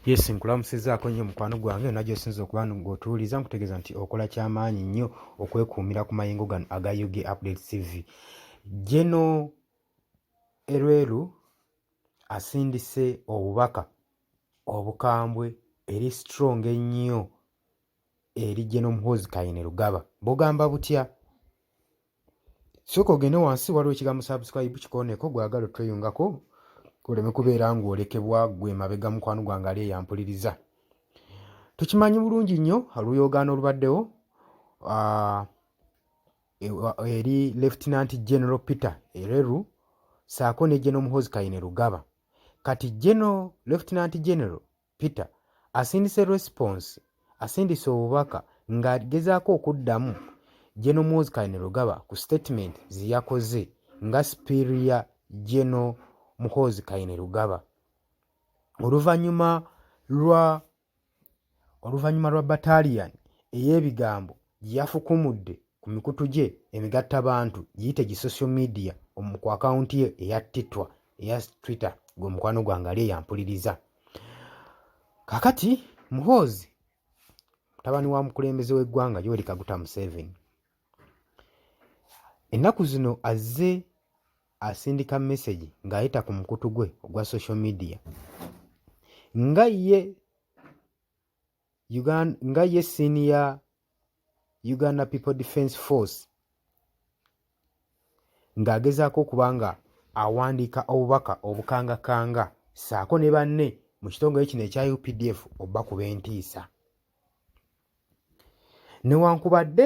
Yes, nkulamusizaako nnyo mukwano gwange yonna gy'osinza okuba ng'otuwuliza nkutegeeza nti okola ky'amaanyi nnyo okwekuumira ku mayengo gano aga ug update tv geno erweru asindise obubaka obukambwe eri strong ennyo eri geno muhoozi kayine lugaba bugamba butya sooka ogende wansi waliwo ekigambo subscribe kikooneko gwagala otweyungako oleme kubeera ng'olekebwa gwe mabega mukwano gwange ali eyampuliriza tukimanyi bulungi nnyo oluyogaano olubaddewo ah, e, eri lieutenant general peter ereru saako ne geno muhozi kaine lugaba kati geno lieutenant general Peter asindise response asindise obubaka ng'agezaako okuddamu General Muhoozi Kainerugaba ku statement ze yakoze nga Superior General Muhoozi Kainerugaba oluvannyuma lwa oluvannyuma lwa battalion ey'ebigambo gye yafukumudde ku mikutu gye emigatta bantu giyite gi social media omu ku akawunti ye eya titwa eya twitter gwe mukwano gwange ali eyampuliriza kakati muhoozi mutabani wa mukulembeze w'eggwanga yoweri kaguta museveni ennaku zino azze asindika mesegi ng'ayita ku mukutu gwe ogwa social media nga ye Uganda, nga ye siini ya uganda people defence force ng'agezaako okuba nga awandiika obubaka obukangakanga ssaako ne banne mu kitongole kino ekya updf obakuba entiisa newankubadde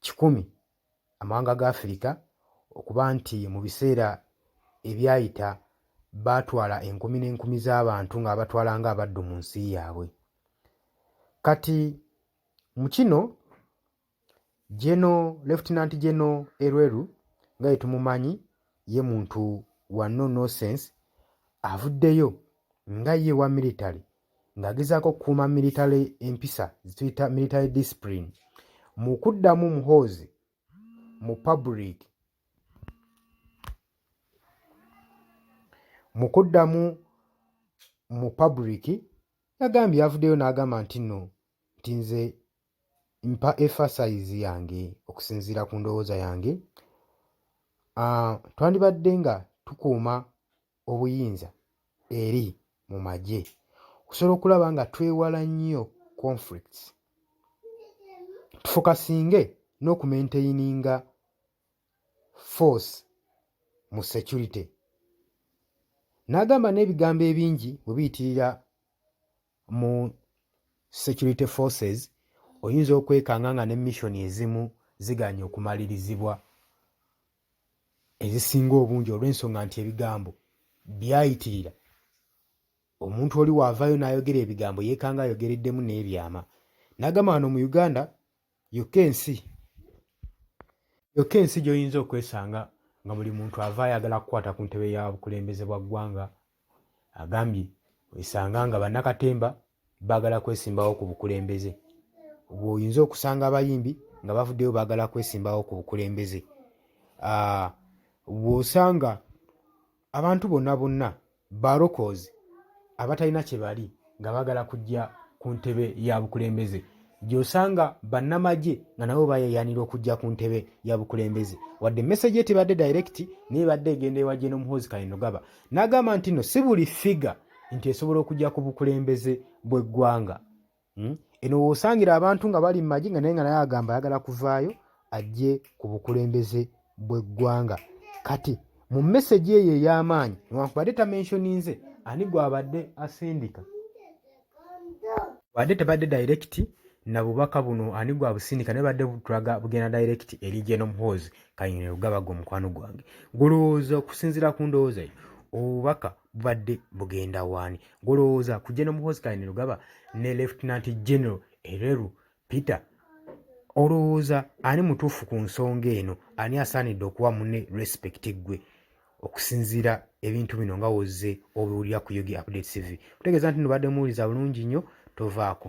kikumi amawanga ga Afirika okuba nti mu biseera ebyayita baatwala enkumi n'enkumi z'abantu ng'abatwala ng'abaddu mu nsi yaabwe kati mu kino geno lefutinanti geno erweru nga ye tumumanyi ye muntu wa no nosense avuddeyo nga ye wa military ng'agezaako okukuuma miritale empisa zituyita miritale discipline mu kuddamu muhoozi mu public mu kuddamu mu public yagambye yavuddeyo n'agamba nti nno nti nze mpa efasayizi yange okusinziira ku ndowooza yange ah, twandibadde nga tukuuma obuyinza eri mu magye okusobola okulaba nga twewala nnyo conflicts tufokasinge n'okumaintaininga force mu security n'agamba n'ebigambo ebingi bwe biyitirira mu security forces oyinza okwekanga nga ne mission ezimu ziganye okumalirizibwa ezisinga obungi olw'ensonga nti ebigambo byayitirira omuntu oli waavaayo n'ayogera ebigambo yeekanga ayogereddemu n'ebyama n'agamba wano mu uganda yokka ensi yokka ensi gy'oyinza okwesanga nga buli muntu ava ayagala kukwata ku ntebe ya bukulembeze bwa ggwanga agambye wesanga nga bannakatemba baagala kwesimbawo ku bukulembeze bweoyinza okusanga abayimbi nga bavuddeyo baagala kwesimbawo ku bukulembeze bw'osanga abantu bonna bonna barokozi abatalina kye bali nga bagala kujja ku ntebe ya bukulembeze gyosanga bannamagye nga nabo bayeyanira okujja ku ntebe ya bukulembeze wadde message ye tebadde direct naye badde egenda ewa jeno muhozi kainogaba n'agamba nti no si buli figa nti esobola okujja ku bukulembeze bw'eggwanga hmm? eno woosangira abantu nga bali mu magye nga naye nga naye agamba ayagala kuvaayo ajje ku bukulembeze bw'eggwanga kati mu mesegi eyo ey'amaanyi newankubadde tamenshoninze ani gwabadde asindika wadde tebadde dayirekiti na bubaka buno ani gwabusindika naye badde butulaga bugenda dayirekiti eri genomuhoozi kayine lugabaga omukwano gwange gulowooza okusinziira ku ndowooza yo obubaka bubadde bugenda waani gulowooza ku genomuhoozi kayine lugaba ne lefutinanti genero ereru Peter, olowooza ani mutuufu ku nsonga eno? Ani asaanidde okuwa mune respect ggwe okusinziira ebintu bino nga wozze obiwulira ku Yogi Update TV? Kutegeeza nti nubadde muwuliza bulungi nnyo, tovaako.